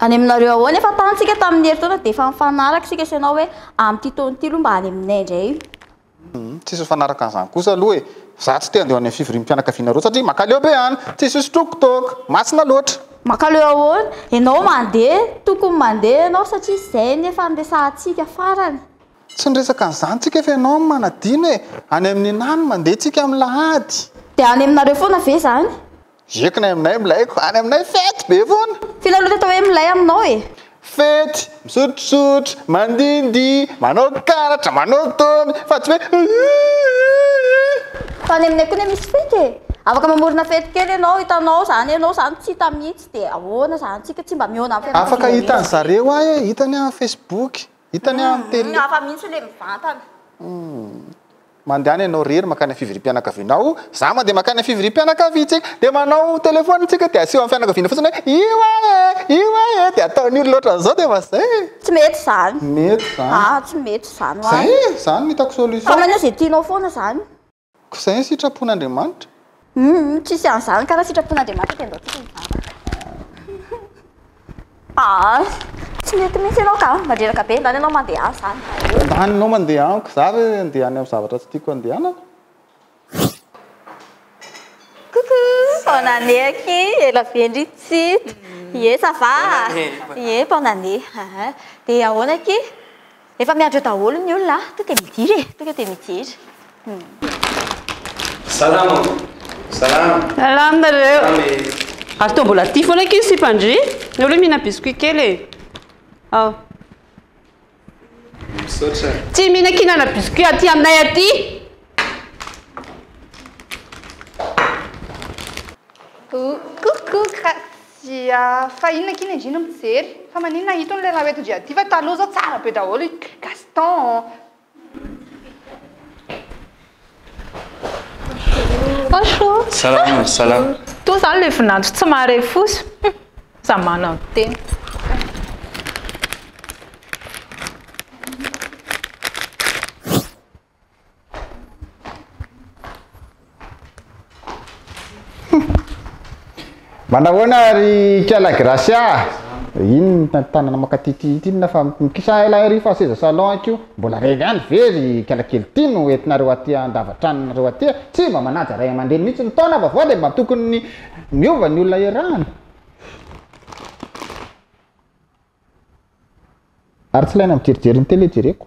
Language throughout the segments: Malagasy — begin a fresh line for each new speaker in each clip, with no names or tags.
Any aminareo ahoana?
Efa tany tsika tamin'ny herintaona dia efa nifanaraka isika sy ianao hoe amin'ity taona ity aloha mba any aminay indray. Tsisy
mifanaraka an'izany kosa aloha e! Za tsy te handeha ho any amin'ny fivoriam-pianakavianareo satria makaleo be any! Tsisy hosotroiko toaka! Masina loatra! Makaleo ahoana?
Ianao mandeha, tokony mandeha ianao satria izay ny efa niresahantsika farany. Tsy niresaka
an'izany tsika fa ianao no manadino e! Any amin'i Neny any mandeha tsika amin'ny lahady! Dia any aminareo
foana ve izany? Ieko nay aminay
milaiko any aminay fety be foana. Tena loto atao hoe milay
aminao e. Fety,
misotrosotro, mandihindihy, manao karatra, manao domy, fa tsy hoe hihihihihi.
Fa any aminay koa anie misy fety e. Afaka mamorona fety kely ianao, hitanao izany ianao izany tsy hita mihitsy dia ahoana izany, tsika tsy mba mihaona amin'ny fianakaviana rehetra. Afaka hitan'zareo
ahy e, hitany aho amin'ny facebook, Hitany amin'ny télé. Ny hafa mihitsy ilay
mivantana.
Mandehana ianao irery mankany fivoriam-pianakavianao, za mandeha mankany fivoriam-pianakaviantsika, dia manao téléphone tsika dia aseho amin'ny fianakaviana fotsiny hoe io ahy e, io ahy e, dia ataon'ny olona ohatran'izao dia efa zay e. Tsy mety izany.
Mety izany. Aah,
tsy mety izany ho ahy.
Zay e, izany no hitako
solution. Fa maneho izay tianao
foana izany. Ko izay ny
sitrapon'Andriamanitra? Humm tsisy
an'izany ka raha sitrapon'Andriamanitra dia andaontsika hivavaka. Aa tsy mety mihitsy ianao ka, mandreraka be, ndany ianao mandeha any izany vao eo. Ndany ianao mandeha
any, ko za ve handeha any amin'ny zavatra tsy tiako handehanana?
Coucou, bonne année aky, ela vendry tsy hita, ie ça va? ie bonne année, ahh, dia ahoana aky? Efa miandry eo daholo ny olona a! Tonga dia midira e! Tonga dia midira!
Salama! Salama!
Salama nareo! Salama e! Ary toa mbola tia foana akia ny sipan-dry! Ny olona mihina biscuit kely e! Ao! Misaotra!
Tsy mihina
kihinana biscuit aty aminay aty!
Coucou! Dia fa inona akia ny andriana mijery? Fa maninona itony ilay raha hoentin-dry aty fa taloha izao tsara be daholo i Gaston.
Bonjour. Salama, salama.
Toa izany ilay
vinanto tsy mahare fosa. Hum, za manantena.
Manao ahoana ry Kala Gracia? Iny tanana makatity ity na fa mikisa ela ry fa seza salon akio. Mbola revy ihany ve ry Kala kely ity no entinareo aty an-davatranonareo aty? Tsy mba manaja ray aman-dreny mihitsy ny taona vaovao dia mba tokony ny miova ny olona iarahana. Ary tsy ilaina mijerijerin'ny tele jereko.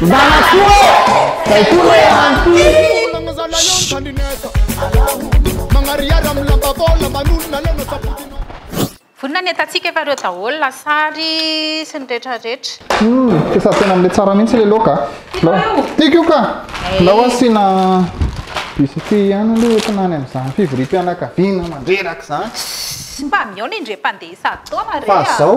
Zanako ô! Zay koa no
eran'ity. Vonona ny atatsika efa reo daholo lasary sy ny retra retra. Humm efa tena
mle tsara mintsy le laoka a! Tiako io ka! Ndao asiana biscuit ihany aloha entina any amin'izany fivoriam-pianakaviana mandreraka izany. Mba mihaona
indrey mpandeha isan-taona re a! Fa zao.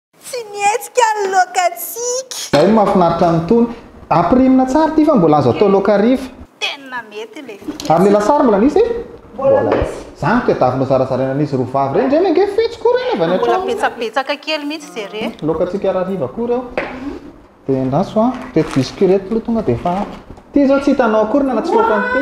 Tsy mihetsika ny lokantsika.
Zay mafinaritra ny tony.
Ampirimina
tsara ity fa mbola azo atao laoka hariva. Tena
mety le fiketsa. Ary le lasary mbola
nisy? Mbola misy. Zany no tadiaviko nozarazaraina an'izy roa vavy reny. Reny ange fetsy koa reny avy any an-trano. Mbola betsabetsaka
kely
mihitsy
ze re. Lokantsika harariva koa
reo. De endaso an. Reto biscuits reto lo tonga de efa ampy. Ty zao tsy hitanao akory na tsy foaka an'ity.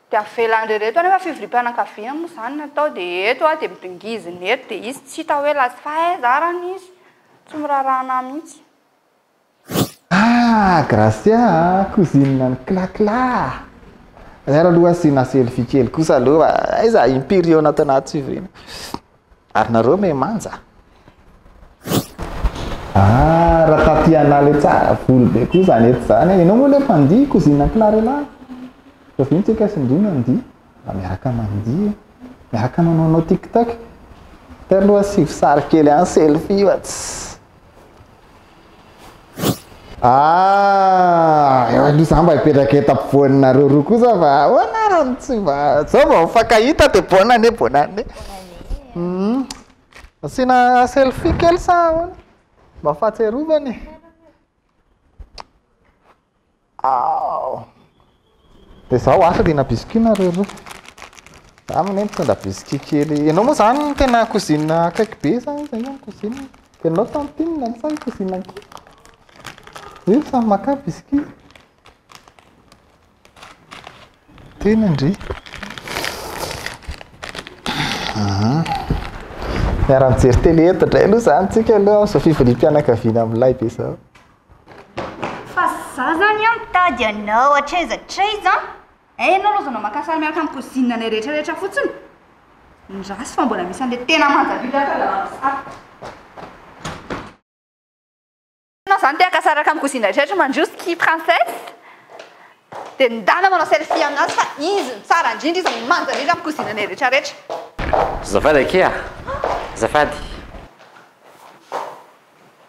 Dia avela ndry reto anefa fivoriam-pianakaviana moa izany no atao dia eto aho dia midongizina eto dia izy tsy hita hoe lasa fa aiza ary any izy? Tsy miraharaha anah mihitsy. Ah
Gracia a! Cousine an'i Kla Kla a! Ary ary aloha asiana selfie kely kosa aloha fa aiza imperial-na tao anaty fivoriana. Ary nareo me manja. Ah, raha taty anà le tsara voly be koa zany eto zany e. Ianao moa le mpandihy cousine Clarella. Fa vino tsika sy ndry mandihy. Mba miaraka mandihy e. Miaraka manaonao TikTok. Telo aloha asivo sary kely any selfie fa tss. Ah, eo aloha za mba hipetraka eto ampovoaninareo roa kosa fa ahoana raha no tsy mba zao vao mifankahita dia bonne année bonne année hmm. asiana selfie kely sa ahoana mba fahatsiarovana e Aoh! Dia izaho asa dia nabiscuit nareo roa. Za anie mitondra biscuit kely. Ianao moa izany tena cousine akaiky be sa iza io ny cousine? Ianao tantine sa i cousine ankizy? Io samy makà biscuit. Tena ndry. Miara-mijery télé eto indray aloha izany tsika aloha amin'izao fivoriam-pianakaviana milay be izao.
Fa za zany an mitady anao hatraiza hatraiza an! Eh ianao aloha aza anao maka sary miaraka amin'ny cousine anay rehetra rehetra fotsiny. Ny ratsy fa mbola misy an'ilay tena manja be daholo aza manao sary. Ianao zany te haka sary miaraka amin'ny cousine rehetra rehetra mandroso tia princesse. Dia ny dana manao selfie aminazy fa izy no tsara indrindra izy no manja indrindra amin'ny cousine anay rehetra rehetra. Azafady
akia a! Azafady.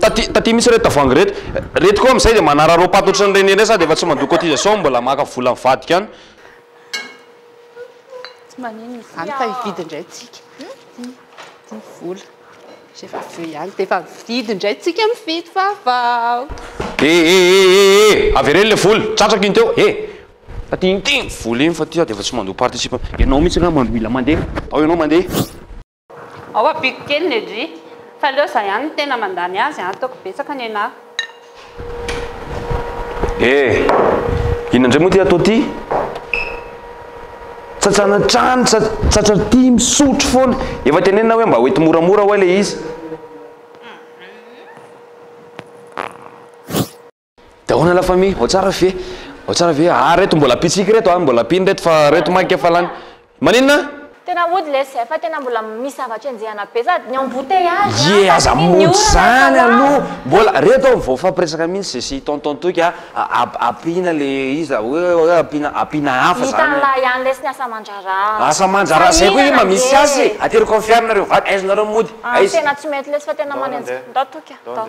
Taty taty mihitsy ireto tavoahangy ireto. Ireto koa amin'izay dia manararaopaty ohatran'ny reny ireny sady efa tsy mandoa cotisation mbola maka vola mivadika any. Tsy maninona izany.
Any fa hividy indray tsika. Ity vola. Izay efa avy eo ihany dia efa mividy indray tsika mividy vaovao. E e e e
e e! Avereno ilay vola. Tratrako iny teo. E! Taty iny ity vola iny fa ity sady efa tsy mandoa participe. Ianao mihitsy angaha mandroila mandeha. Ao ianao mandeha. Ao
ampiko kely ny edry fa aleo za ihany no tena mandany azy an, ataoko betsaka nenah.
Eh! Inona indray moa ity atao ity? Tsatsana hatrany, tsatra aty, misotro foana. Efa tenenina hoe mba hoety moramora ho'a ilay izy. Daona la famille, ao tsara ve? Ao tsara ve? Ah reto mbola pitsiky reto ah, mbola pino reto fa reto maika efa lany. Maninona? Tena ody lesy
eh, fa tena mbola misy zavatra enjehana be sady ny embouteillage an, Ye aza sady ny monjy orana efa
zany lany. aloha, mbola reto aho vao hifampiresaka mihintsy ze sy tonton Toky a, ampiana le izy a, hoe hoe ampiana ampiana hafa zany. Hitanlah ihany lesy ny
asa aman-draharaha. Asa aman-draharaha zay
koa inona misy azy e, ateriko amin'ny fiaranareo vaky, aiza nareo mody, aiza. Tena tsy mety lesy
fa tena manenjika, ndao Toky a, ndao.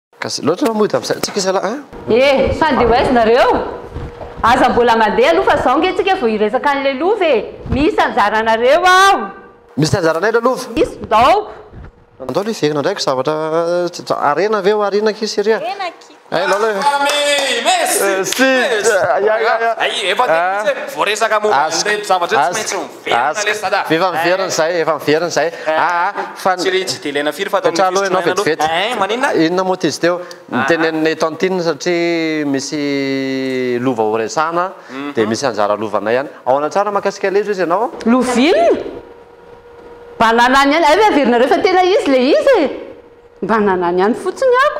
Gasy loatra
anao mody amin'izay antsika zalahy a! Eh! Fa ndeha
ho aiza nareo? Aza mbola mandeha aloha fa zao nge tsika vao hiresaka an'ilay lova e! Misy anjaranareo aho! Misy anjaranay
ilay lova? Misy, ndaoko! Andao aloha hiverina indray ko zavatra harena ve hohariana akia Syria? Harena akia! Hay lolo e! Amee! Merci! Merci! Aïe aïe
aïe! Hay efa telo minitra e! Voaresaka momba an'ireto zavatra ireto tsy maintsy Efa miverina izay,
efa miverina izay. Aa fa Tsy ry
tsy dia ilaina firy fa ataon'ny Mipetrahaloha ianao fisotroana aloha.
vetivety. Ein, maninona? Inona moa
ty izy teo?
Niteneninay tantine satria misy lova ho resahana dia misy anjara lovanay ihany. Ahoana tsara mahakasika ilay izy hoy ianao? Lovina?
Bananany ihany, hay ve averinareo fa tena izy ilay izy e? Bananany ihany fotsiny ako.